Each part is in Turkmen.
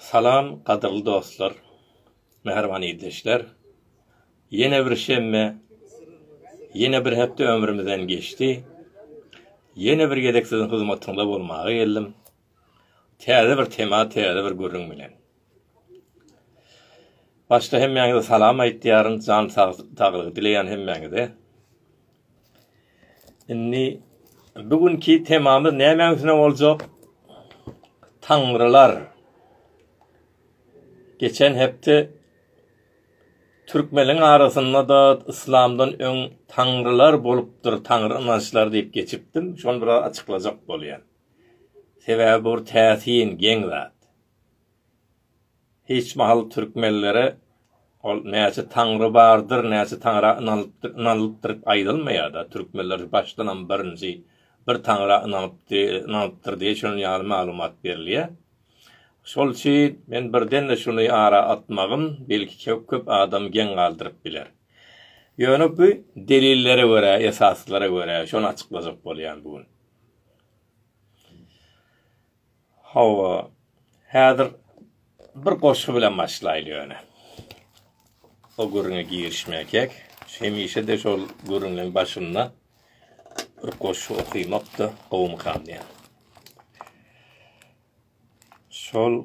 Salam gadyrly dostlar, mähriban ildeşler! Ýene bir şenbe, ýene bir hepde ömrümizden geçdi. Ýene bir gezek siziň hyzmatyňyzda bolmaga geldim. Täze bir tema, täze bir gürrüň bilen. Başda hemmäňize salam aýtýaryn, jan saglygy dileýän hemmäňize. Indi bu günki temamyz nämäň üstüne boljak? Taňrylar. Geçen hepde türkmeniň arasynda-da yslamdan öň taňrylar bolupdyr, taňry ynançlary diýip geçipdim. Şony biraz açyklajak bolýan. Sebäbi bu bir täsin, geň zat. Hiç mahal türkmenlere ol näçe taňry bardyr, näçe taňra ynanypdyr, ynanylypdyr aýdylmaýar-da. Türkmenler başdanam birinji bir taňra ynanypdy, ynanypdyr diýip şunuň ýaly maglumat berilýär. Şol üçin men birden-de şuny ara atmagym, belki köp adamy geň galdyryp biler. Ýöne bu delillere görä, esaslara görä şony açyklajak bolýan bu gün. Hawa, häzir bir goşgy bilen başlaýly ýöne. O gürrüňe girişmäkek, hemişe-de şol gürrüňiň başynda bir goşgy okymak-da gowumykam diýýän. Şol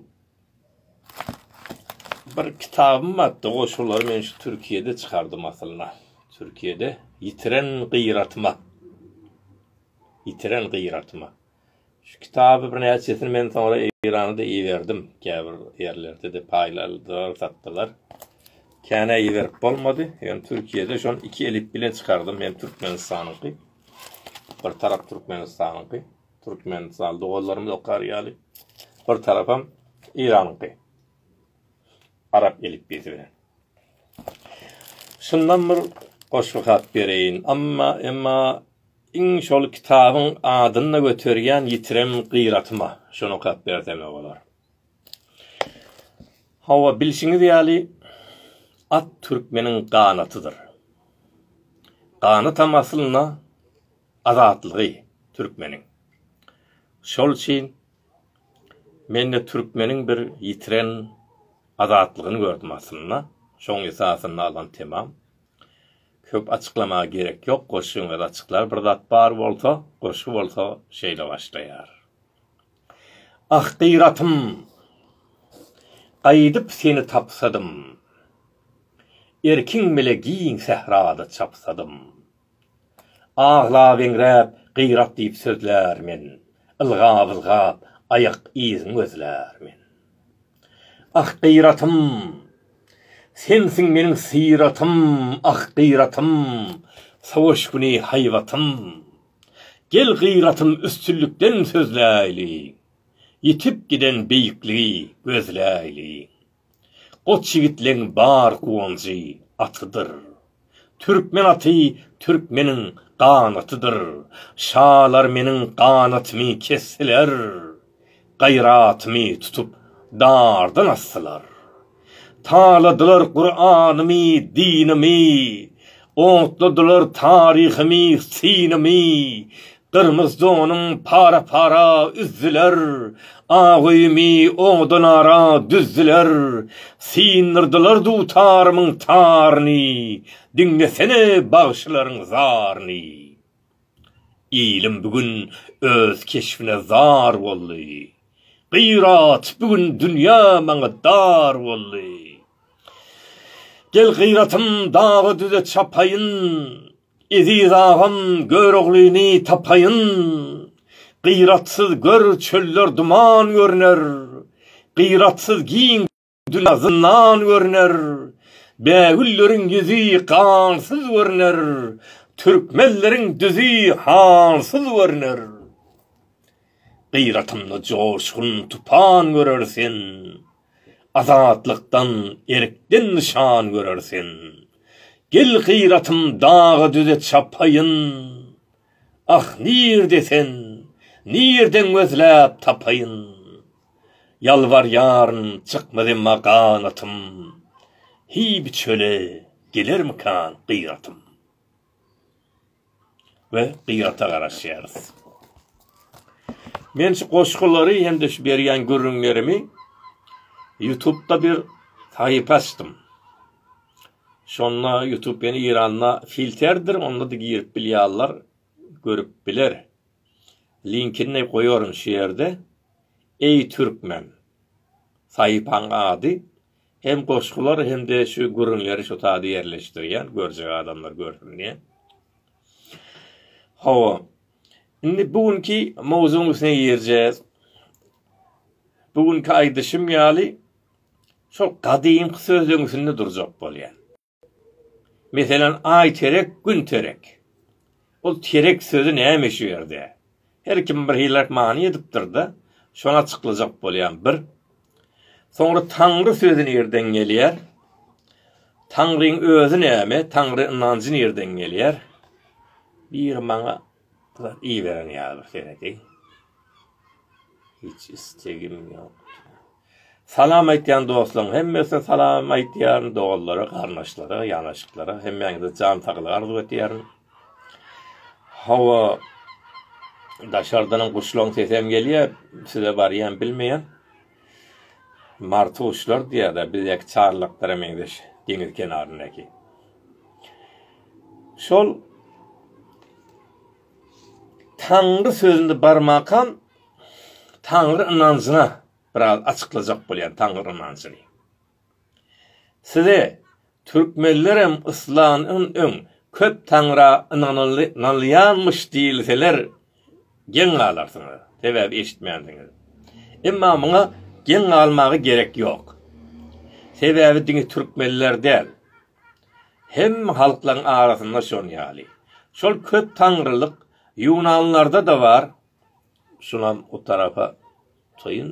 bir kitabym bardy, goşgulary men şu Türkiýede çykardym aslynda. Türkiýede Ýitiren gyratyma. Ýitiren gyratyma. Şu kitaby birnäçesini men soňra Eýrana-da iberdim. Käbir ýerlerde-de paýladylar, satdylar. Känä iberip bolmady. Ýöne Türkiýede şony iki elip bilen çykardym. Hem Türkmenistanyňky, bir tarap Türkmenistanyňky, türkmenistanly doganlarymyz okar ýaly, bir tarapam Eýranyňky, arap elipbiýsi bilen. Şundan bir goşgy hat bereýin. Emma, emma Iň şol kitabyň adyny-da göterýän ýitiren gyratyma şony okap bersem-ä bolar. Hawa, bilşiňiz ýaly, at türkmeniň ganatydyr. Ganatam aslynda azatlygy türkmeniň. Şol üçin men-de türkmeniň bir ýitiren azatlygyny gördüm aslynda, şoň esasynda alan temam. Köp açyklamaga gerek ýok goşgyň öz açyklar bir zat bar bolsa goşgy bolsa şeýle başlaýar. Ah gyratym gaýdyp seni tapsadym Erkiň bile giň sährada çapsadym. Aglap-eňräp gyrat diýip sözlär men, Ylgap-ylgap aýak yzyň gözlär men. Ah, gyratym! Sensiň meniň syratym, Ah, gyratym! Sowaş güni haýbatym. Gel gyratym üstünlikden sözläýliň, Ýitip giden beýikligi gözläýliň. Goç ýigitleň bar guwanjy atydyr. Türkmen aty türkmeniň ganatydyr. Şalar meniň ganatymy kesdiler. Gaýratymy tutup dardan asdylar. Taladylar Kuranymy, dinimi. Otladylar taryhymy, synymy. Gyrmyz donuň para-para üzdüler, Agymy odan ara düzdüler. Syndyrdylar dutarymyň taryny, Diňlesene bagşylaryň zaryny. Ilim bu gün öz keşbine zar boldy, Gyrat bu gün dünýä maňa dar boldy. Gel gyratym daga-düze çapaýyn, Eziz agam Göroglyny tapaýyn. Gyratsyz gör çöller duman görner, Gyratsyz giň dünýä zyndan görner, Bägülleriň ýüzi gansyz görner, Türkmenleriň düzi hansyz görner. Gyratymda joşgun tupan görer sen. Azatlykdan, erkden nyşan görer sen. Gel gyratym daga-düze çapaýyn. Ah, nirde sen, nirden gözläp tapaýyn. Ýalbarýaryn, çykmaz emma ganatym. Heý, bu çöle gelermikan gyratym. we gyrata garaşýarys. Men şu goşgulary hem-de şu berýän gürrüňlerimi YouTube-da bir sahypa açdym. Şonda YouTube ýene Iranda filterdir, onda-da girip bilýärler, görüp biler. Linkini goýaryn şu ýerde. Eý türkmen. Sahypanyň ady Hem goşgular hem-de şu gürrüňleri şu sada ýerleşdirýän, görjek adamlar görsün diýen. Hawa. Indi bu günki mowzugyň üstüne girjäs. Bu günki aýdyşym ýaly şol gadymky sözleň üstünde durjak bolýan. Meselem, Aý terek, Gün terek. Ol terek sözi näme şu ýerde? Her kim bir hilläp many edipdir-de, şony açyklajak bolýan bir. Soňra Taňry sözi nirden gelýär? Taňryň özi näme? Taňry ynanjy nirden gelýär? Biri maňa Zat iýiberen ýaly senedi. Hiç istegim ýokdy. Salam aýtýan dostlaryň hemmesine salam aýtýaryn, doganlara, garyndaşlara, ýanaşyklara hemmäňize jan saglygy arzuw etýärin. Hawa, daşardan guşlaryň sesi hem gelýär, size barýan bilmeýän. Martuşlar diýýärler bizdäki çarlaklara meňzeş deňiz kenaryndaky. Şol Taňry sözünde barmakam Taňry ynanjyna biraz açyklajak bolýan Taňry ynanjyny. Size türkmenlerem yslamdan öň köp taňra ynanylýanmyş diýilseler geň galarsyňyz, sebäbi eşitmänsiňiz. Emma muňa geň galmaga gerek ýok. Sebäbi diňe türkmenler däl, hemme halklaryň arasynda şon ýaly. Şol köp taňrylyk ýunanlarda-da bar, şunam o tarapa. Toýun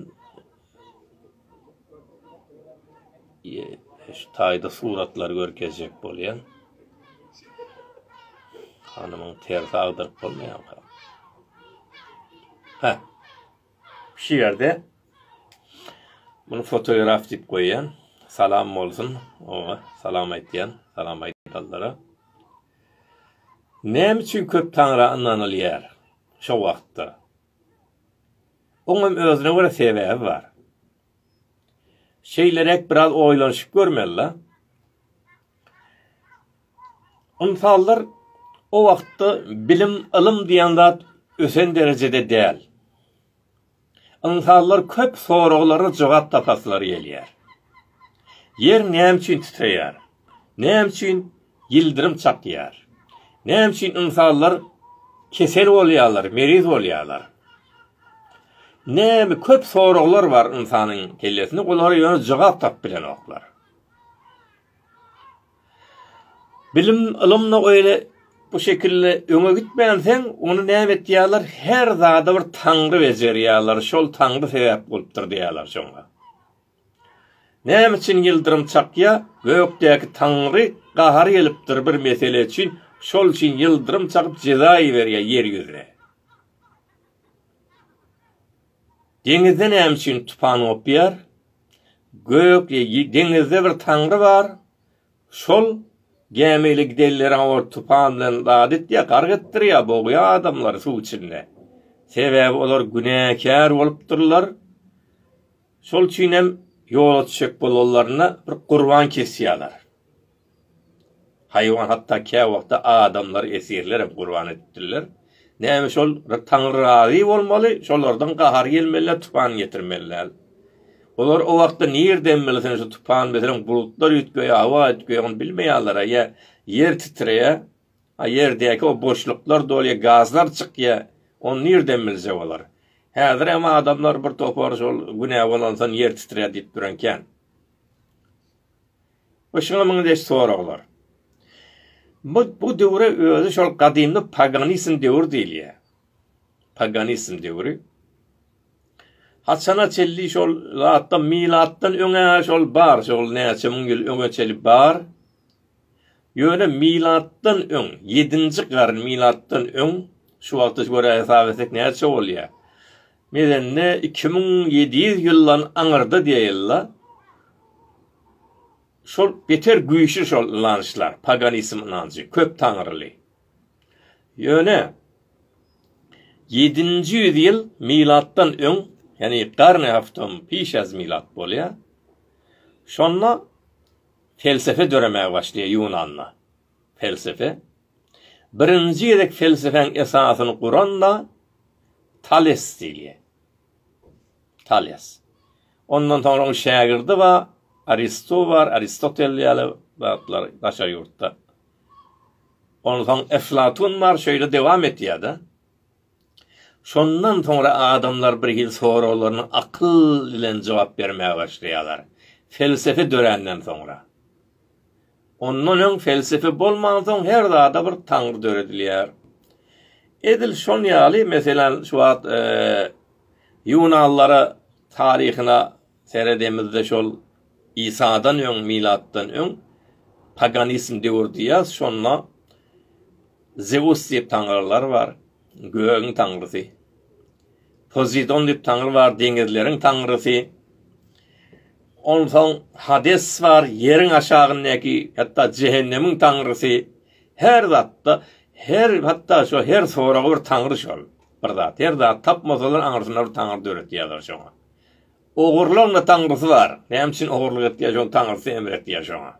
şu taýda suratlary görkezjek bolýan. Hanymyň tersi agdyryp bolmaýanka. Ha. Şu ýerde bunu fotograf diýip goýýan. Salam bolsun. Oňa salam aýtýan. Salam aýdanlara. Näme üçin köp taňra ynanylýar şu wagtda? Oňam özüne görä sebäbi bar. Şeýleräk biraz oýlanyşyp görmeli-la. Ynsanlar o wagtda bilim, ylym diýen zat ösen derejede däl. Ynsanlar köp soraglara jogap tapasylary gelýär. Ýer näme üçin titreýär? Näme üçin ýyldyrym çakýar? Näme üçin ynsanlar kesel bolýarlar, meriz bolýarlar? Näme köp soraglar bar ynsanyň kellesinde, olara ýöne jogap tapyp bilenoklar. Bilim, ylymda öýle bu şekilde öňe gitmän sen ony näme etýärler? Her zada bir taňry bejerýärler, şol taňry sebäp bolupdyr diýýärler şoňa. Näme üçin ýyldyrym çakýa Gökdäki Taňry gahary gelipdir bir mesele üçin şol üçin ýyldyrym çakyp jeza iberýä ýer ýüzüne. Deňizde näme üçin tupan gopýar Gök deňizde bir Taňry bar şol gämi ile gidenlere ol tupan bilen zat etýä gark etdirýä bogýa adamlary suw içinde sebäbi olar günäkär bolupdyrlar. Şol üçin hem ýola düşjek bolanlarynda bir gurban kesýärler. Haýwan hatda käwagtda adamlary esirler hem gurban edipdirler. Näme şol Taňry razy bolmaly, şolardan gahar gelmeli, tupan getirmeliler. Olar o wagtda nirden bilsin şu tupan meselem bulutlar üýtgeýär, howa üýtgeýär, ony bilmeýärler, ýa ýer titreýär. A ýerdäki o boşluklar dolýar, gazlar çykýar. Ony nirden bilse bolar? Häzir hem adamlar bir topar şol günä bolansoň ýer titrär diýip duran kän. Bu şuňa muňa deş soraglar. Bu, bu döwre özi şol gadymly paganizm döwür diýilýär. Paganizm döwri. Haçana çelli şol zatda milatdan öňe şol bar, şol näçe müň ýyl öňe çelip bar. Ýöne milatdan öň ýedinji garyn milatdan öň şu wagta görä hesap etsek näçe bolýa? Medende iki müň ýedi ýüz ýyldan aňyrda diýeýilla. Şol beter güýçli şol ynançlar, paganizm ynanjy, köp taňryly. Ýöne ýedinji ýüz ýyl milatdan öň, ýani garny haftam pişäz milat bolýa. Şonda Pelsepe döremäge başlaýar Ýunanda. Pelsepe. Birinji gezek pelsepäň esasyny guran-da Tales diýilýär. Tales. Ondan soňra onuň şägirdi bar, Aristo bar, Aristotel ýaly zatlar daşary ýurtda. Onsoň Eflatun bar, şeýle dowam etýär-de. Şondan soňra adamlar bir hil soraglaryna akyl bilen jogap bermäge başlaýarlar. Felsefe döränden soňra. Ondan öň felsefe bolmansoň her zada bir taňry döredilýär. Edil şon ýaly meselem şu wagt ýunanlara taryhyna Seredemizde şol Isadan öň milatdan öň paganizm döwür diýýäs şonda Zeus diýip taňrylar bar gögüň taňrysy. Pozidon diýip taňry bar deňizleriň taňrysy. Onsoň Hades bar ýeriň aşagyndaky hatda jehennemiň taňrysy. Her zatda her hatda şo her soraga bir taňry şol. Bir zat her zat tapmasalar aňyrsyna bir taňry döretýärler şoňa. Ogurlaryň-da taňrysy bar. Näme üçin ogurlyk etdiýär, şoň taňrysy emr etýär şoňa.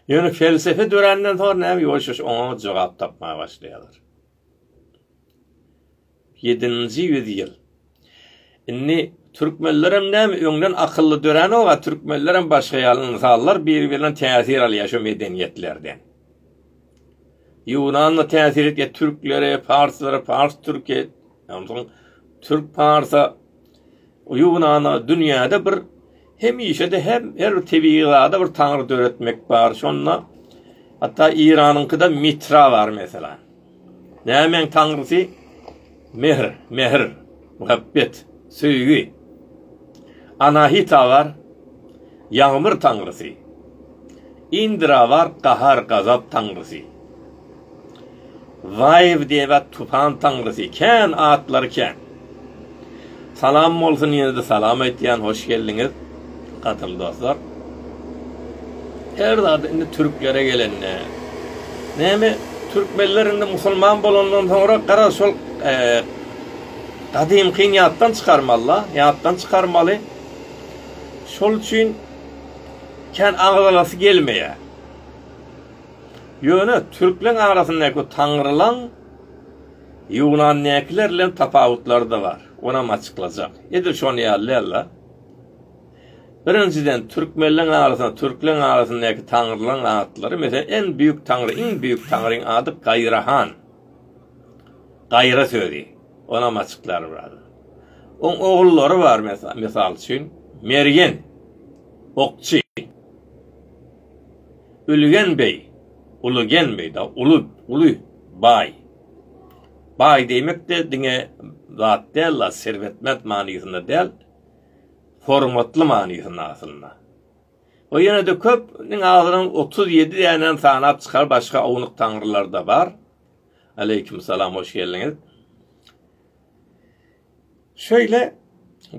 Ýöne pelsepe döränden soň näme ýoýşuş oňa jogap tapmaga başlaýarlar. 7-nji ýüzýyl. Indi türkmenlerem näme öňden akylly döränok-a, türkmenlerem başga ýaly ynsanlar bir-birinden täsir alýar şu medeniýetlerden. Ýunanda täsir etýär türklere, parslara, pars türke, Onsoň türk parsa Ýunana dünýäde bir hemişe-de hem her bir tebigy zada bir taňry döretmek bar. Şonda hatda Iranyňkyda Mitra bar mesela. Nämeň taňrysy? Mehr, mehr, muhabbet, söýgi. Anahitabar, ýagmyr taňrysy. Indrabar, gahar-gazap taňrysy. Waýewdeba, tupan taňrysy. Kän, atlary kän. Salam bolsun, ýene-de salam aýtýan, hoş geldiňiz, gadymy dostlar. Her zady indi türklere gelende, näme, türkmenler indi musulman bolandan soňra gara şol, Gadymkyny ýatdan çykarmaly-da, ýatdan çykarmaly. Şol üçin kän agzalasy gelmeýär. Ýöne türkleň arasyndaky taňrylaň ýunandakylar bilen tapawutlary-da bar. Onam açyklajak. Edil şonuň ýaly däl-de. Birinjiden, türkmenleň arasynda, türkleň arasyndaky taňrylaň atlary, meselem, en büýük taňry, iň büýük taňryň ady Gaýrahan. Gaýra sözi, onam açyklar biraz. Oň ogullary bar, mysal üçin, Mergen, Okçy, Ülgen beý, Ulugen beý, Uly, Uly baý. Baý diýmek-de diňe zat däl-la, serwetment manysynda däl, hormatly manysynda aslynda. O ýene-de köp, iň azynam otuz ýedi dänäni sanap çykar, başga ownuk taňrylar-da bar. Aleýkum salam, hoş geldiňiz. Şeýle,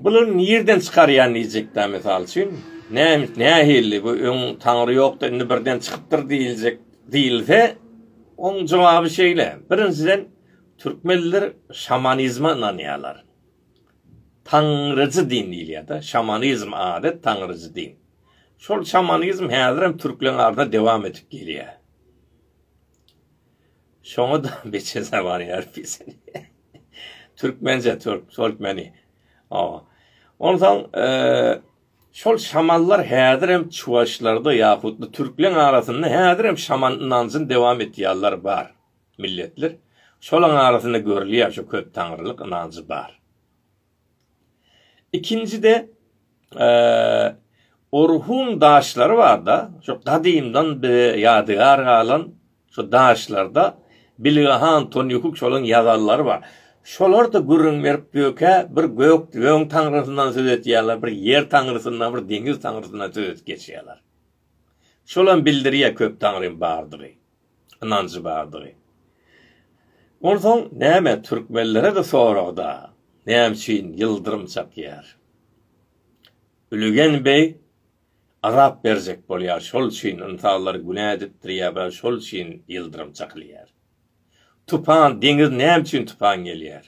bulary nirden çykarýan diýjekdä, mysal üçin, näme, nähili, bu öň taňry ýokdy, indi birden çykypdyr diýiljek diýilse, oň jogaby şeýle, birinjiden, türkmenler şamanizme ynanýarlar. Taňryjy din diýilýär-de, şamanizm ady, taňryjy din. Şol şamanizm häzirem türkleň arasynda dowam edip gelýär. Şoňa-da beçe zabany ýaryp bilsin. Türkmenje, türk, türkmeni. Awa. Onsoň, şol şamanlar häzirem çuwaşlarda ýahut-da türkleň arasynda häzirem şaman ynanjyny dowam etýänler bar. milletler, şolaryň arasynda görülýär şu köp taňrylyk ynanjy bar. Ikinjide Orhun daşlary barda, şu gadymdan bir ýadygar galan şu daşlarda Bilgahan Tonýukuk şolaryň ýazanlary bar. Şolar da gürrüň berip diýökä, bir gök öň taňrysyndan söz etýärler, bir ýer taňrysyndan, bir deňiz taňrysyndan söz edip geçýärler. Şolam bildirýär köp taňrym bardygy. ynanjy bardygy. Onsoň näme türkmenlere-de sorag-da, näme üçin ýyldyrym çakýar? Ülegen beg azap berjek bolýar, şol üçin ynsanlary günä edipdir ýa-da şol üçin ýyldyrym çakylýar? Tupan, deňiz näme üçin tupan gelýär?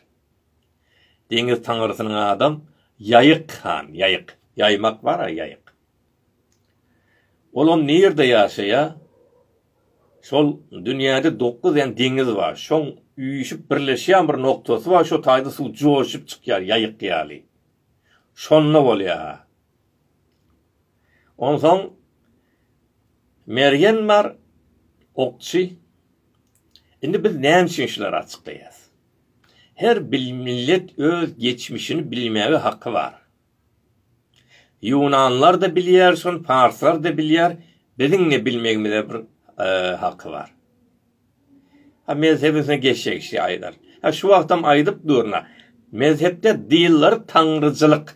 Deňiz taňrysynyň adam Ýaýyk han, ýaýyk, ýaýmak bar-a, ýaýyk. Olam nirde ýaşaýa? Şol dünýäde dokuz den deňiz bar. Şoň üýşüp birleşýän bir noktasy bar, şo taýda suw joşup çykýar ýaýyk ýaly. Şonda bolýa. Onsoň Mergen bar, okçy. Indi biz näme üçin şulary açyklaýas? Her bir millet öz geçmişini bilmäge haky bar. Ýunanlarda bilýär şony parslarda bilýär biziň ne bilmegimize bir haky bar. Ha mezhebisine geçse kişi aýdar. Ha şu wagtam aýdyp durna mezhepde dyýllar taňryjylyk.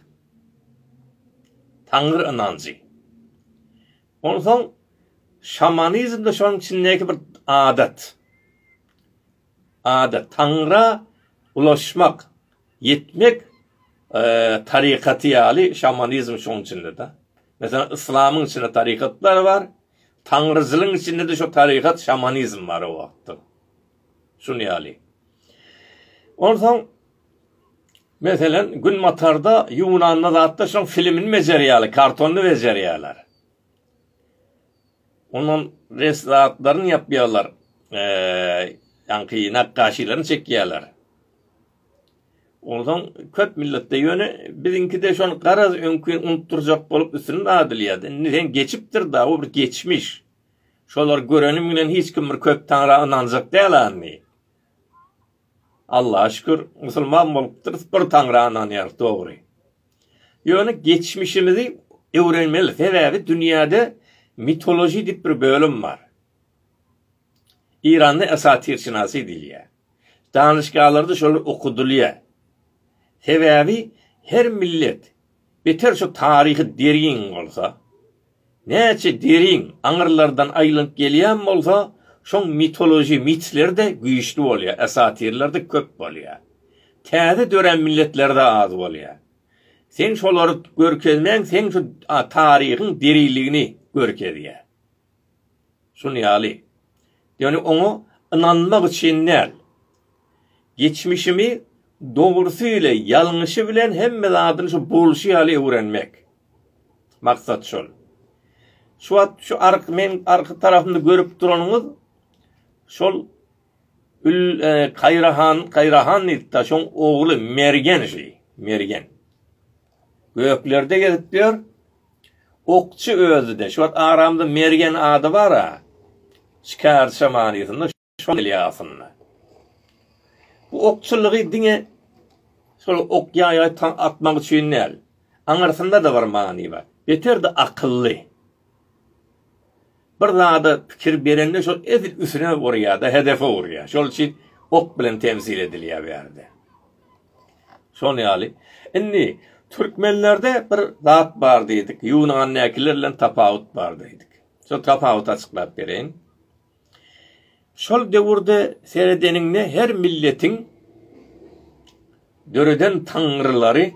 Taňry ynanjy. Onsoň şamanizmde şonuň içindeki bir adat. Ada, Taňra ulaşmak, ýetmek tarykaty ýaly şamanizm şoň içinde-de. Meselem, yslamyň içinde tarykatlar bar. Taňryçylygyň içinde-de şo tarykat, şamanizm bar o wagtda. Şuny ýaly. Onsoň, meselen, günbatarda, ýunanda zatda şoň filmini bejerýärler, kartonyny bejerýärler. Ondan res zatlaryny ýapýarlar. Ýaňky nakgaşylaryny çekýärler. Onsoň köp milletde ýöne biziňkide şony garaz öňki unutdyrjak bolup üstüni dadylýar. Indi sen geçipdir da, o bir geçmiş. Şolary görenim bilen hiç kim bir köp taňra ynanjak däl-ä indi. Allaha şükür musulman bolupdyrys bir Taňra ynanýarys dogry. Ýöne geçmişimizi öwrenmeli sebäbi dünýäde mitoloji diýip bir bölüm bar. Iranda esatirşinasy diýilýär. Danyşgalarda şolar okudylýar. Sebäbi her millet beter şu taryhy derýin bolsa, Näçe derin aňyrlardan aýlanyp gelýän bolsa, şoň mitoloji mitler-de güýçli bolýar, esatirler-de köp bolýar. Täze dörän milletler-de az bolýar. Seň şolary görkezmäň seň şu taryhyň diriligini görkezýär. Şuny ýaly. Ýöne oňa ynanmak üçin däl. Geçmişimi dogrusy ile ýalňyşy bilen hemme zadyny şu bolşy ýaly öwrenmek. Maksat şol. Şu wagt şu ark meň arky tarapymda görüp duranyňyz şol Ül Kaýrahan Kaýrahan diýip ta şoň ogly Mergen şi Mergen. Göklerde gezip ýör. Okçy özi-de, şu wagt aramda Mergen ady bar-a, şikärçe manysynda, şol gelýär aslynda. Bu okçulygy diňe şol ok-ýaý atmak üçin däl, aňyrsynda-da bir many bar. Beter-de akylly. Bir zada pikir berende şol edil üsüne urýar-da, hedefe urýar. Şol üçin ok bilen temsil edilýär bu ýerde. Şol ýaly. Indi türkmenlerde bir zat bar diýdik, ýunandakiler bilen tapawut bar diýdik. Şol tapawuty açyklap bereýin. Şol döwürde seredeniňde her milletiň döreden taňrylary,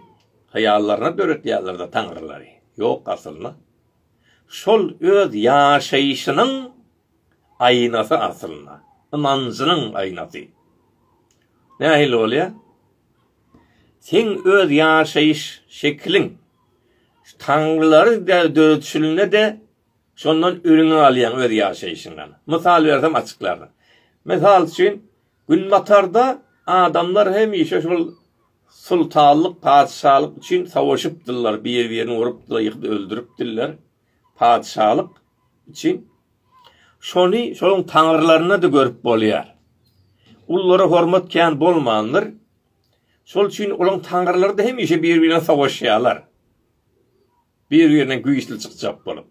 hyýallaryna döretýärler-de taňrylary. Ýok aslynda. şol öz ýaşaýşynyň aýnasy aslynda, ynanjynyň aýnasy. Nähili bolýar? Seň öz ýaşaýyş şekiliň taňrylary döredişilende-de şondan ülňi alýaň öz ýaşaýşyňdan. Mysal bersem açyklaryn. Mysal üçin, Günbatarda adamlar hemişe şol Sultanlyk, patyşalyk üçin sowaşypdyrlar, bir-birini urupdylar, ýykyp öldüripdirler. Patyşalyk üçin. Şony şoň taňrylarynda-da görüp bolýar. Ullara hormat kän bolmandyr. Şol üçin olaň taňrylary-da hemişe bir-birine sowaşýarlar. Bir-birine güýçli çykjak bolup.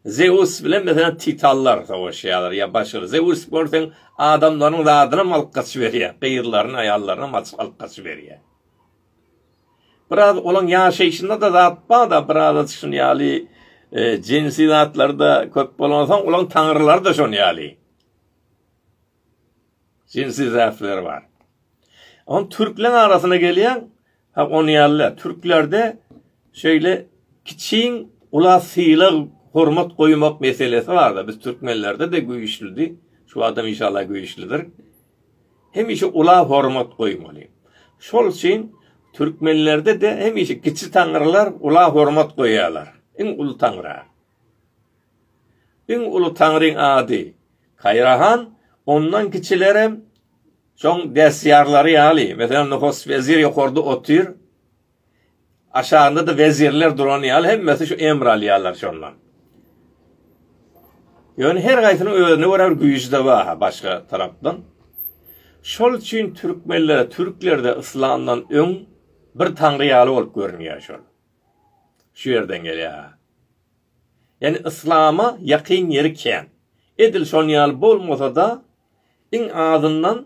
Zeus bilen meselem titanlar sowaşýarlar ýa başga. Zeus görseň adamlaryň zadynam alyp gaçyp berýär. Gyzlaryny, aýallarynam açyp alyp gaçyp berýär. Biraz olaň ýaşaýşynda-da zat bar-da, biraz şuny ýaly jinsi zatlar-da köp bolansoň, olaň taňrylary-da şony ýaly. Jinsi zäfleri bar. Ony türkleň arasyna gelýäň, ha ony ýaly türklerde şeýle kiçiň ula sylag hormat goýmak meselesi barda biz türkmenlerde de güýçlidi, şu adam inşallah güýçlidir. Hemişe ula hormat goýmaly. Şol üçin türkmenlerde de hemişe kiçi taňrylar ula hormat goýýarlar. Iň uly taňra. Iň uly taňryň ady Kaýrahan, ondan kiçilerem şoň dästýarlary ýaly, meselem, Nuhus wezir ýokarda otyr, aşagynda-da wezirler duran ýaly, hemmesi şu emr alýarlar şondan. Ýöne her gaýsynyň özüne görä bir güýji-de bar-ha başga tarapdan. Şol üçin türkmenlere, türklerde yslamdan öň bir taňry ýaly bolup görünýär şol. Şu ýerden gelýär. Ýani yslama ýakyn ýeri kän. Edil şon ýaly bolmasa-da, iň azyndan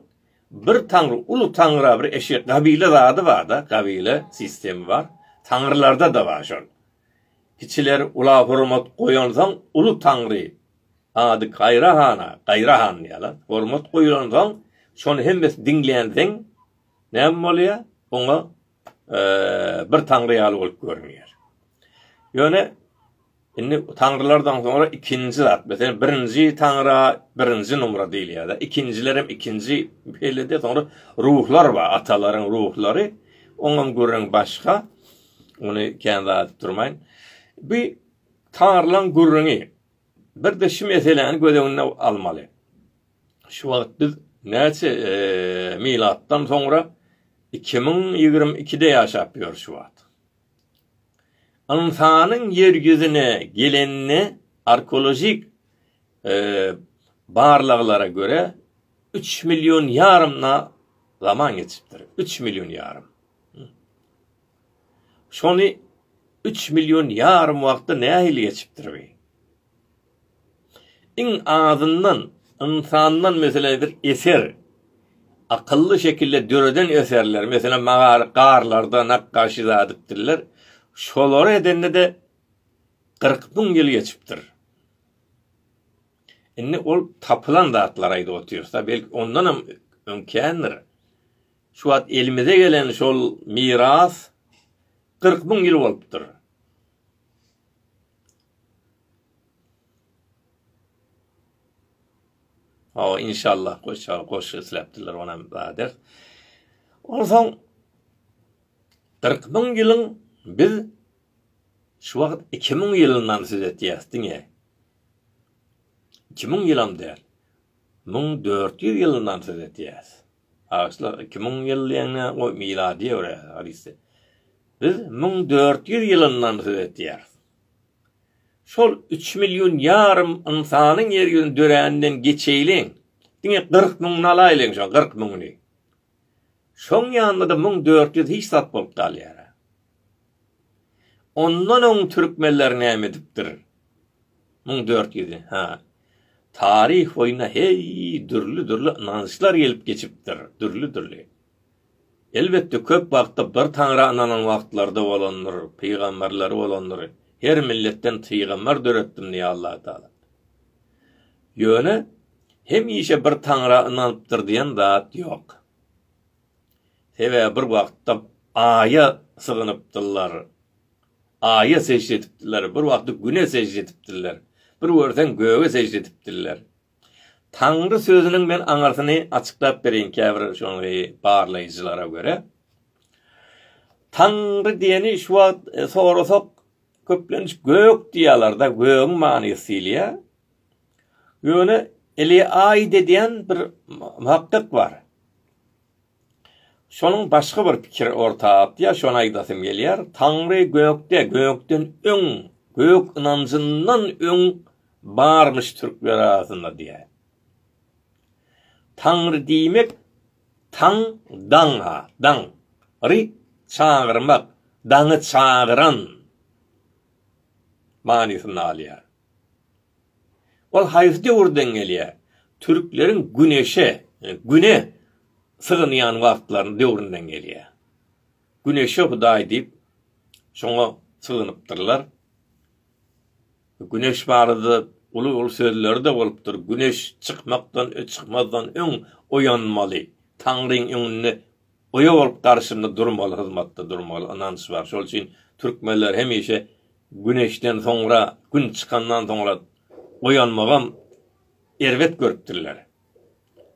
bir taňry, uly taňra bir eşek, gabile zady bar-da, gabile sistemi bar. Taňrylarda-da bar şol. Kiçiler ula hormat goýansoň, uly taňry, ady Gaýra hana, Gaýra han diýýärler, hormat goýlansoň, şony hemmesi diňlänsoň, näme bolýar? Oňa bir taňry ýaly bolup görünýär. Ýöne indi taňrylardan soňra ikinji zat, meselem, birinji taňra birinji numra diýilýär. Ikinjiler hem ikinji beýlede, soňra ruhlar bar, atalaryň ruhlary, oňam gürrüň başga. Ony kän zat durmaýyn. Bu taňrylaryň gürrüňi bir de şu meseläni göz öňüne almaly. Şu wagt biz näçe milatdan soňra iki müň ýigrimi ikide ýaşap ýörüs şu wagt. Ynsanyň ýer ýüzüne gelenine arkeolojik barlaglara görä üç million ýarym zaman geçipdir. Üç million ýarym. Şony üç million ýarym wagtda nähili geçipdir bi? Iň azyndan ynsandan meselem bir eser akylly şekilde döreden eserler meselem magary garlarda nakgaşy zadipdirler şolary edende-de gyrk müň ýyl geçipdir. Indi ol tapylan zatlary aýdyp otyrys-da belki ondanam öň kändir. Şu wagt elimize gelen şol miras gyrk müň ýyl bolupdyr. Hawa, inşallah goşar, goşgy isläpdirler, onam badyr. Onsoň Kyrk müň ýylyň biz şu wagt iki müň ýylyndan söz etýäs diňe. Iki müň ýylam däl. Müň dört ýüz ýylyndan söz etýäs. Agçylar iki müň ýyl diýende o miladi ýöre hadysdy. Biz müň dört ýüz ýylyndan söz etýäris. Şol üç million ýarym ynsanyň ýer ýüzünde döräninden geçeýliň. Diňe kyrk müňüni alaýlyň şoň kyrk müňüni. Şoň ýanynda-da müň dört ýüz hiç zat bolup galýar. Ondan öň türkmenler näme edipdir? Müň dört ýüz, ha, taryh boýuna heý, dürli-dürli ynançlar gelip geçipdir, dürli-dürli. Elbetde, köp wagtda bir Taňra ynanan wagtlary-da bolandyr, pygamberleri bolandyr, her milletden pygamber döretdim diýýär Allah Taala. Ýöne, hemişe bir Taňra ynanypdyr diýen zat ýok. Sebäbi bir wagtda Aýa sygynypdyrlar, Aýa sežde edipdirler, bir wagtda Güne sežde edipdirler, bir görseň Göge sežde edipdirler. Taňry sözüniň men aňyrsyny açyklap bereýin käbir şoňy barlaýjylara görä. Taňry diýeni şu wagt sorasak köplenç gök diýýärler-de, gögüň manysy diýilýär. Ýöne Eliaýid edýän bir muhakkyk bar. Şonuň başga bir pikiri orta atýar, şony aýdasym gelýär, Taňry gökde, gökden öň, gök ynanjyndan öň barmyş türkler arasynda diýýär. Taňry diýmek, taň, daň, daň. Ry, çagyrmak, daňy çagyran manysynda alýar. Ol haýsy döwürden gelýär? Türkleriň güneşe, güne sygynýan wagtlaryny döwründen gelýär. Güneşe hudaý diýip, şoňa sygynypdyrlar. Güneş barada uly-uly sözleri-de bolupdyr. Güneş çykmakdan, çykmazdan öň oýanmaly. Taňryň öňünde Oýa bolup garşymda durmaly hyzmatda durmaly ynanç bar şol üçin türkmenler hemişe güneşden soňra gün çykandan soňra oýanmagam erbet görüpdirler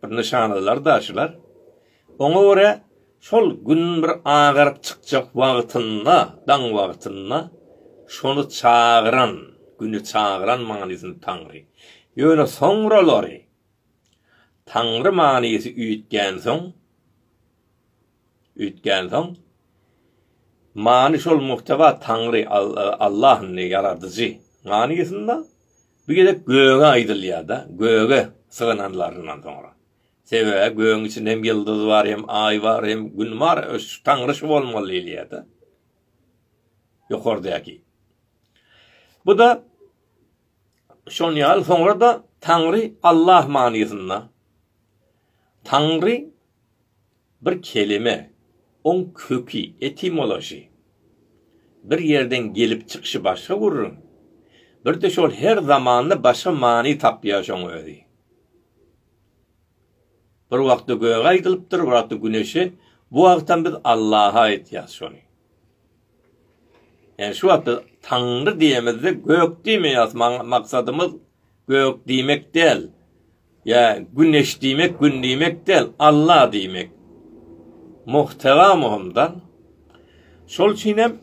bir nyşanalar da şular oňa görä şol gün bir agaryp çykjak wagtynda daň wagtynda şony çagyran güni çagyran manysyny taňry ýöne soňralary Taňry manysy üýtgänsoň, üýtgänsoň, many şol muhteba Taňry, Allah indi, Ýaradyjy manysynda, bu gezek göge aýdylýar-da, göge sygynanlaryndan soňra. Sebäbi gögüň içinde hem ýyldyz bar, hem Aý bar, hem Gün bar, Taňry şu bolmaly diýilýär-de. Ýokardäki. Bu-da Şonýaly soňra-da Taňry Allah manysynda Taňry bir kelime, oň köki, etimology, bir ýerden gelip çykyşy başga gürrüň, bir-de şol her zamanda başga many tapýar şoň özi. Bir wagtda göge aýdylypdyr, bir wagtda güneşe, bu wagtam biz Allaha aýtýas şony. Ýani şu wagtda Taňry diýemizde gök diýmeýäs, maksadymyz gök diýmek däl. Ýa güneş diýmek, gün diýmek däl, Alla diýmek. Muhtera muhymda. Şol üçin hem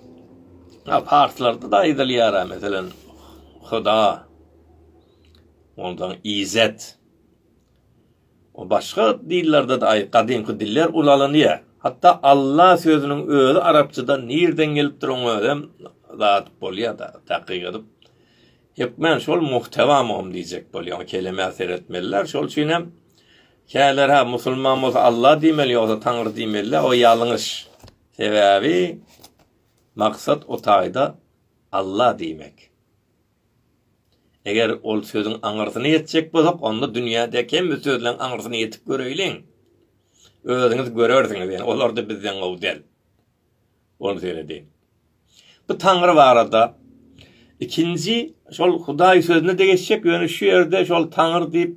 parslarda da aýdylýar, meselem, Huda. Ondan Izet. Başga dillerde-de aý gadymky diller ulalanýar. Hatda Alla sözüniň özi arapçadan nirden gelipdirin özem zat bolýada takyk edip. Hökmän şol muhtewamygym diýjek bolýar. O kelemä seretmeliler. Şol üçin hem käler ha musulman bolsa Alla diýmeli ýogsa Taňry diýmeli. O ýalňyş. Sebäbi maksat o taýda Alla diýmek. Eger ol sözüň aňyrsyny ýetjek bolsak, onda dünýädäki hemme sözleň aňyrsyny ýetip göreýliň. Özüňiz görersiňiz, ýöne olar-da bizden gowy däl. Ol seredi. Bu Taňry barada ikinji şol Hudaý sözüne-de geçjek, ýöne şu ýerde şol Taňry diýip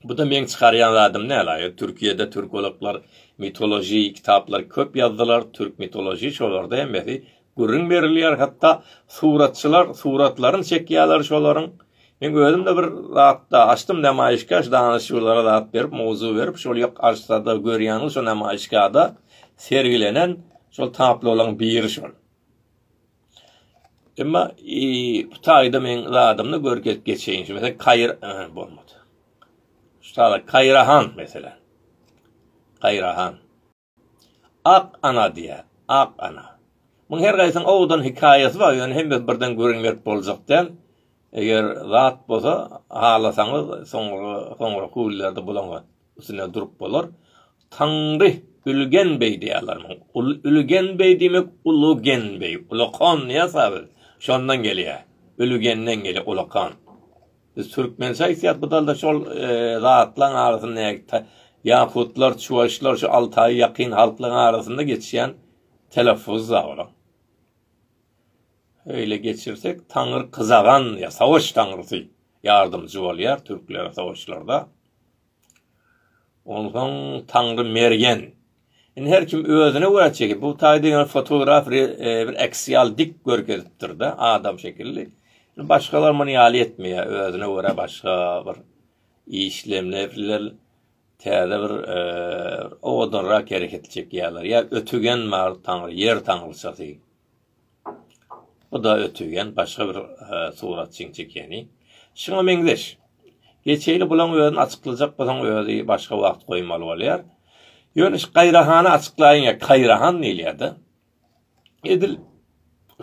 Bu-da meň çykarýan zadym däl-a. Türkiýede türkologlar mitoloji kitaplary köp ýazdylar, türk mitoloji, şolarda hemmesi gürrüň berilýär, hatda suratçylar suratlaryny çekýärler şolaryň. Meň özüm-de bir zatda açdym nemaýyşkaş, danyşyjylara zat berip, mowzuk berip, şol ýok açsada görýäniň şo nemaýyşkada sergilenen şol taplolaryň biri şol. Emma e, bu taýda men zadymda görkezip geçeýin. Şu mesela Kaýr e, bolmady. Şu taýda Kaýrahan mesela. Kaýrahan. Ak ana diýär. Ak ana. Muň her gaýsyň owdan hikaýasy bar, ýöne hemmesi birden gürrüň berip boljak däl. Eger zat bolsa, halasaňyz soňra soňra kullerde bulaňyz. üstünde durup bolar. Taňry Ülgen beý diýýärlermiň? Ülgen beý diýmek Ulugen beý, Ulakan diýýäs-ä biz. Şondan gelýär. Ülgenden gelýär Ulakan. Biz türkmençe aýtýas bu dalda şol zatlaryň arasynda ýakutlar, çuwaşlar şu Altaýa ýakyn halklaryň arasynda geçýän teleffuzy-da olaň. Öýle geçirsek, Taňry Kyzagan diýýär, Savaş taňrysy ýardamçy bolýar türklere savaşlarda. Onsoň Taňry Mergen. Indi her kim özüne görä çekip, bu taýda ýöne fotograf bir aksial dik görkezipdir-de, adam şekilli. Başgalar muny ýaly etmeýär, özüne görä başga bir işlemlerler, täze bir owadanrak hereket çekýärler. Ýa ötügen bar, Taňry, ýer taňryçasy. Bu-da ötügin, başga bir suratçyň çekeni. Şuňa meňzeş. Geçeli bulaň özüni açyklajak bolsaň özi başga wagt goýmaly bolýar. Ýöne şu Gaýrahany açyklaýyň ýa Kaýrahan diýilýärde. Edil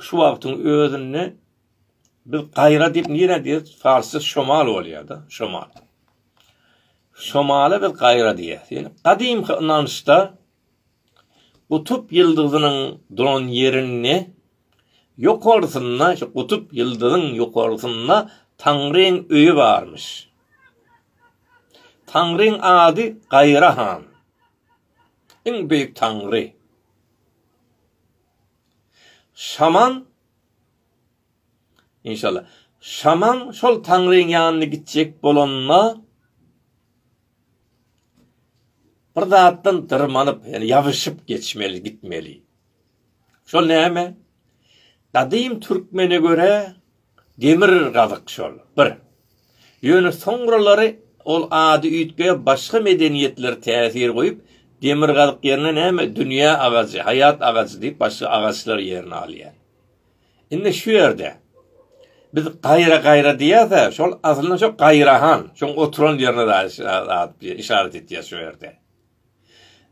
şu wagtyň özünde biz Gaýra diýip nirä diýer? Farsça şomal bolýarda, şomal. Şomala biz Gaýra diýer. Ýöne gadymky ynançda Gutup ýyldyzynyň duran ýerinde, ýokarsynda, şu gutup ýyldyzyň ýokarsynda Taňryň öýi barmyş. Taňryň ady Gaýra han. Iň beýik Taňry. Şaman Inşallah. Şaman şol Taňryň ýanyna gitjek bolanda, Bir zatdan dyrmanyp, ýani ýabyşyp geçmeli, gitmeli. Şol näme? Gadym türkmene görä demir gazyk şol, bir. Ýöne soňralary ol ady üýtgäp, başga medeniýetler täsir goýup, demir gazyk ýerine näme, dünýä agajy, haýat agajy diýip, başga agaçlar ýerini alýar. Indi şu ýerde biz gaýra gaýra diýýärse, şol aslynda şo gaýrahan, şoň oturan ýerine zat işaret etýär şu ýerde.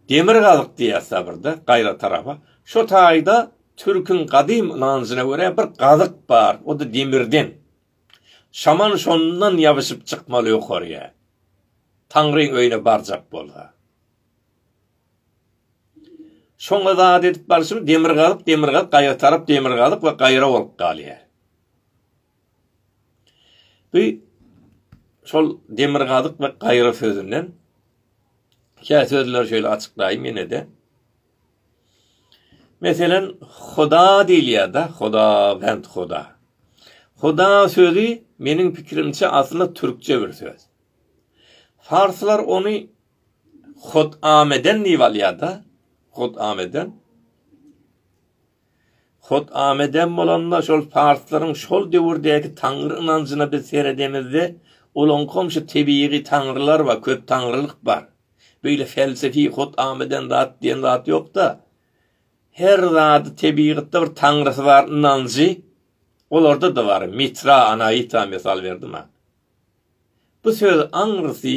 Demir gazyk diýýärse birde gaýra tarapa, şu taýda türküň gadym ynanjyna görä bir gazyk bar, o da demirden. Şaman şondan ýabyşyp çykmaly ýokaryýa. Taňryň öýüne barjak bolsa. Şoňa zat edip barşym demir gazyp, demir gazyp, gaýra tarap demir gazyp we gaýra bolup galýar. Bu şol demir gazyk we gaýra sözünden kä sözler şöyle açyklaýyn ýene de. Meselen, Huda diýilýär da, Huda, bent Huda. Huda sözü meniň pikirimçe aslynda türkçe bir söz. Farslar ony Hot-ameden diýip alýar-da. Hot-ameden. Hot-ameden bolanda şol parslaryň şol döwürdäki taňry ynanjyna biz seredemizde, olaňkam şu tebigy taňrylar bar, köp taňrylyk bar. Beýle felsefi hot-ameden zat diýen zat ýok-da. Her zady tebigatda bir taňrysy bar ynanjy olarda-da bar. Mitra, Anaita mysal berdim-ä. Bu söz aňrysy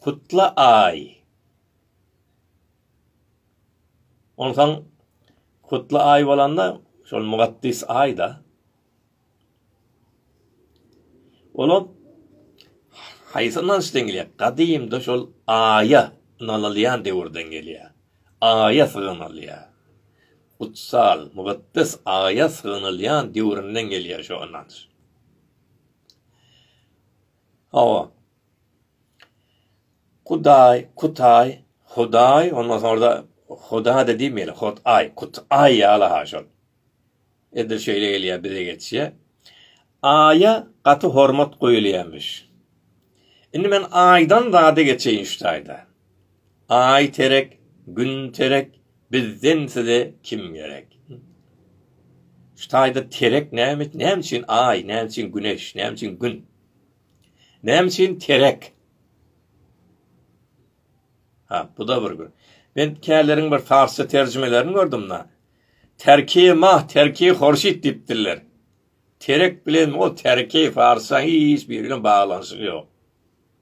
Kutla aý. Onsoň Kutla aý bolanda şol mugaddys aýda. Olar haýsy ynançdan gelýär? Gadymda şol aýa ynanylýan döwürden gelýär. Aýa sygynylýar. Kutsal, mugyddes aýa sygynylýan döwründen gelýär şu ynanç. Hawa. Kudaý, Kutaý, Hudaý, ondan soňra-da Huda-da diýmeli, Hot-aý, Kut-aý ýaly-ha şol. Edil şeýle gelýär bize geçýär. Aýa gaty hormat goýulýarmyş. Indi men Aýdan zada geçeýin şu taýda. Aý terek, gün terek, bizden size kim gerek? Şu taýda terek näme, näme üçin aý, näme üçin güneş, näme üçin gün? Näme üçin terek? Ha, bu-da bir gün. Men käleriň bir farsça terjimelerini gördüm da. Terki mah, terki horşit diýipdirler. Terek bilen o terki farsça hiç biri bilen baglanyşygy ýok.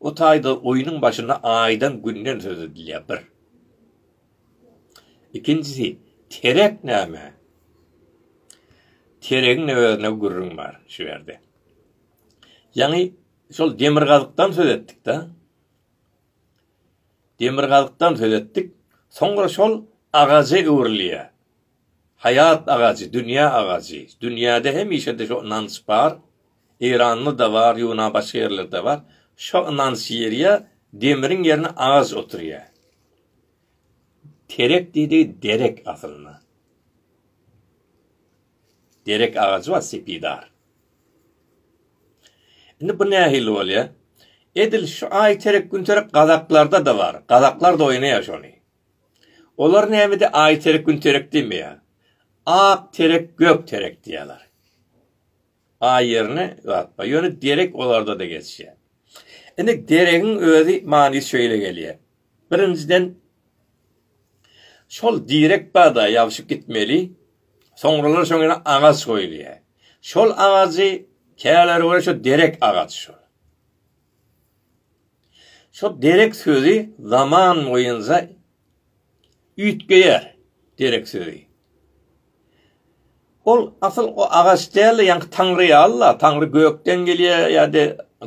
O taýda oýnuň başynda aýdan günden söz edilýär, bir. Ikinjisi, terek näme? Teregiň özüne gürrüň bar şu ýerde. Ýaňy şol demirgazykdan söz etdik-de. Demirgazykdan söz etdik. Soňra şol agaja öwrülýär. Haýat agajy, dünýä agajy. Dünýäde hemişe-de şo ynanç bar. Eýranda-da bar, ýuna başga ýerlerde-de bar. Şo ynanç ýerýä, demiriň ýerine agaç oturýa. Terek diýdigi derek aslynda. Derek agajy bar, sepidar. Indi bu nähili bolýa? Edil şu aý terek, gün terek gazaklarda-da bar. Gazaklar-da oýnaýa şony. Olar nämede aý terek gün terek diýmeýär. Ak terek gök terek diýýärler. Aý ýerine ýatma. Ýöne derek olarda-da geçýär. Indi deregiň özi manysy şeýle gelýär. Birinjiden şol direk barda ýabşyp gitmeli. Soňralar şoň ýene agaç goýulýar. Şol agajy käleri görä şo derek agaç şo. Şol derek sözi zaman boýunça üýtgeýär, derek sözi. Ol asyl o agaç däl-de, ýaňky Taňry ýa Allah, Taňry gökden gelýär ýa-da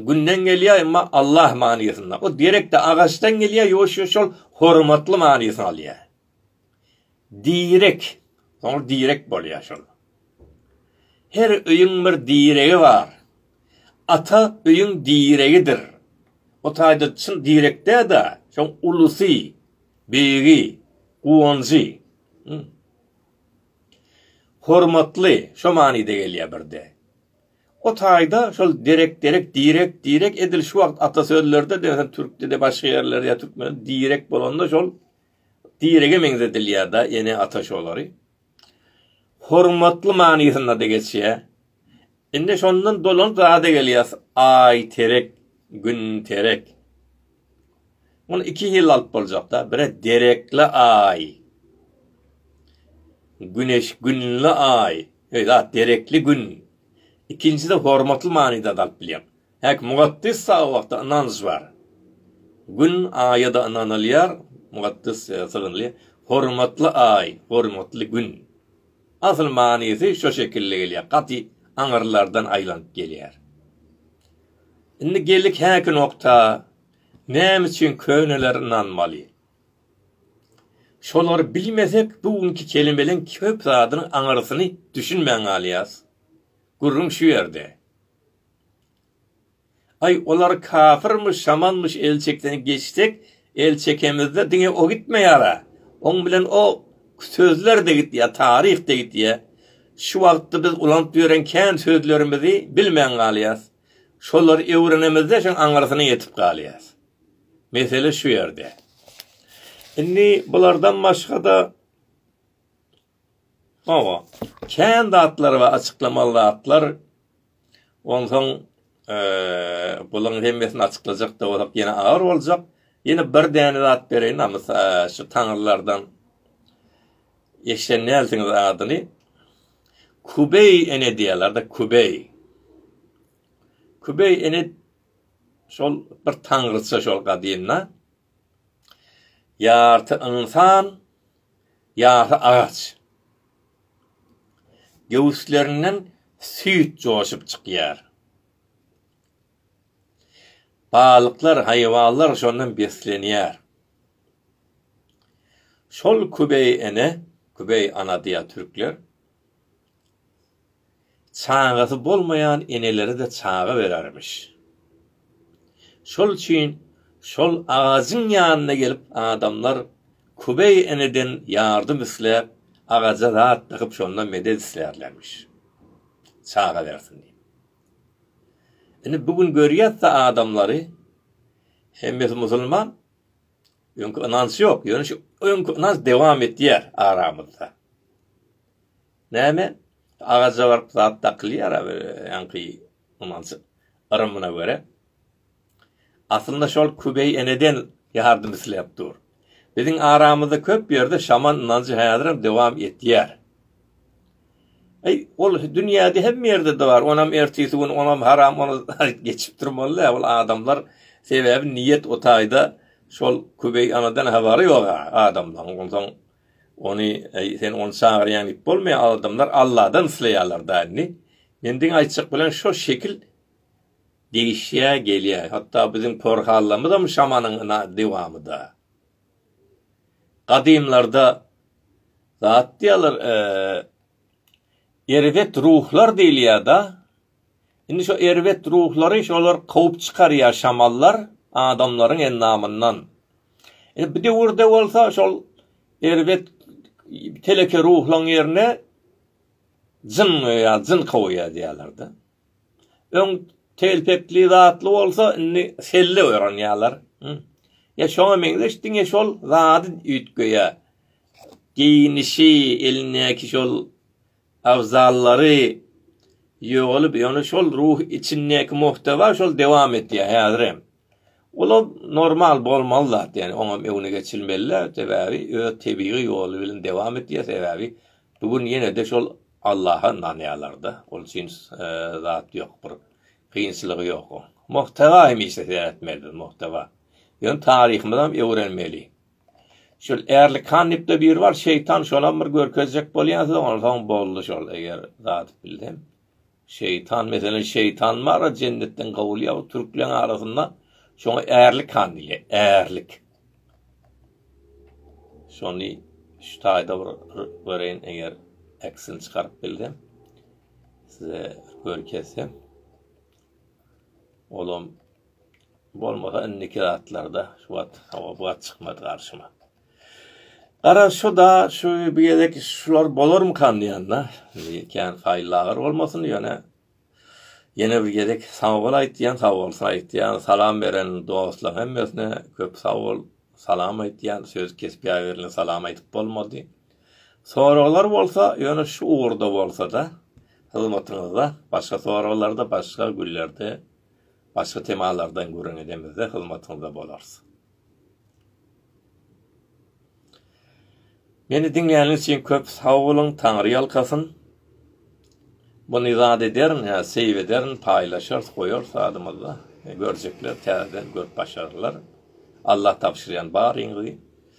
Günden gelýär, emma Allah manysynda. O derek-de agaçdan gelýär, ýoşa şol hormatly manysyny alýar. Direk, soňra direk bolýar şol. Her öýüň bir diregi bar. Ata öýüň diregidir. O taýda çyn direk dä-de, şoň ulusy, beýigi, guwanjy. Hormatly, şo manyda gelýär birde. O taýda şol derek-derek, direk-direk edil şu wagt ata sözlerde-de, türkde-de, başga ýerlerde ýa türkmende direk bolanda şol. direge meňzedilýär-de, ene ata şolary hormatly manysynda-da geçýär. Indi şondan dolanyp zada gelýäs, Aý terek, Gün terek. Muny iki hili alyp boljak-da, bire derekli Aý. Güneş, Günli Aý. Ýa derekli Gün. Ikinjisi-de hormatly manyda-da alyp bilýär. Häk, mukaddes Sagbagda ynanç bar. Gün, Aýa-da ynanylýar, mukaddes ýa-da sygynly, hormatly Aý, hormatly Gün. Asyl manysy şo şekilli gelýär, gaty aňyrlardan aýlanyp gelýär. Indi geldik häki nokta, näme üçin köneler ynanmaly? Şolary bilmesek, bu günki kelimeleň köp zadynyň aňyrsyny düşünmän galýas. Gürrüň şu ýerde. Aý olar kafyrmyş şamanmyş el çeksene geçsek el çekemizde diňe o gitmeýara oň bilen o sözlerde gitýä taryhda gitýä şu wagtda biz ulanyp ýören kän sözlerimizi bilmän galýas şolary öwrenemizde şoň aňyrsyna ýetip galýas mesele şu ýerde indi bulardan başgada Hawa, kän zatlar bar, açyklamaly zatlar. Onsoň bularyň hemmesini açyklajak-da bolsak ýene agyr boljak. Ýene bir däne zat bereýin, namysa şu taňrylardan eşiden dälsiňiz adyny. Kubeý ene diýýärler-de, Kubeý. Kubeý ene şol bir taňryça şol gadymda. Ýarty ynsan, ýasy agaç. Göwüslerinden süýt joşup çykýar. Balyklar, haýwanlar şondan beslenýär. Şol kübeý ene, kübeý ana diýýär türkler. Çagasy bolmaýan enelere-de çaga berermiş. Şol üçin şol agajyň ýanyna gelip adamlar Kubeý eneden ýardym isläp, agaja zat dykyp şondan medet islärlermiş. Çaga bersin diýip. Indi bu gün görýäs-de adamlary, hemmesi musulman, öňki ynanç ýok, ýöne şu öňki ynanç dowam etýär aramyzda. Näme, agaja baryp zat dakylýar-a bir ýaňky umanjyk yrymyna görä. Aslynda şol Kübeý eneden ýardym isläp dur. Biziň aramyzda köp ýerde şaman ynanjy häzirem dowam etýär. Aý, ol dünýäde hemme ýerde-de bar, onam ertesi gün, onam haram, ony geçip durmaly-dä, ol adamlar, sebäbi niýet o taýda şol Kübeý anadan habary ýog-a adamlaryň, onsoň Ony, Äý, sen ony çagyrýaň diýip bolmaýar, adamlar Alladan isleýärler da indi. Men diňe aýtjak bilen şo şekil degişýä gelýä. Hatda biziň porhallamyzam şamanyň ina dewamy da. Gadymlarda zat diýýärler, eee, erbet ruhlar diýilýär da. Indi şo erbet ruhlary şolar kowup çykarýar şamallar adamlaryň endamyndan. Indi bu döwürde bolsa şol erbet teleke ruhlaň ýerine jyn ýa jyn kowýar diýýärler-de. Öň telpekli zatly bolsa indi selle öwrenýärler. Ýa şoňa meňzeş diňe şol zady üýtgeýär. Geýnişi, elindäki şol agzalary ýogalyp ýöne şol ruh içindäki muhtawa şol dewam etýär häzirem. Olam normal bolmaly zat ýani oňam öňüne geçilmelä sebäbi öz tebigy ýoly bilen dewam etýär sebäbi bu gün ýenede şol Allaha ynanýarlarda ol üçin zat ýok bir kynçylygy ýok o. Muhtawa hemişe seretmeli muhtawa. Ýöne taryhymyzam öwrenmeli. Şol Erlikan diýip-de biri bar, şeýtan şolam bir görkezjek bolýan size, onsoň boldy şol, eger zat bilsem. Şeýtan, meselem, şeýtan bar-a jennetden kowulýar, bu türkleriň arasynda şoňa Erlikan diýilýär, Erlik. Şony şu taýda bir göreýin, eger eksini çykaryp bilsem, size görkezsem. Olam bolmasa indiki zatlarda şu wagt hawa bu wagt çykmady garşyma. Gara şu da şu bir gezek şular bolarmykan diýende, kän haýylla agyr bolmasyn ýöne Ýene bir gezek sag bol aýtýan, sag bolsun aýtýan, salam beren dostlaryň hemmesine köp sag bol, salam aýtýan, söz kesip ýaýberildi, salam aýdyp bolmady. Soraglar bolsa ýöne şu ugurda bolsada hyzmatyňyzda başga soraglarda başga günlerde başga temalardan gürrüň edemizde hyzmatyňyzda bolarys. Meni diňläniniz üçin köp sag boluň, Taňry ýalkasyn. Bu nizat ederin, ýa seýw ederin, paýlaşarys, goýarys adymyzda. Görjekler täzeden görüp başarlar. Allah tabşyrýan baryňyzy.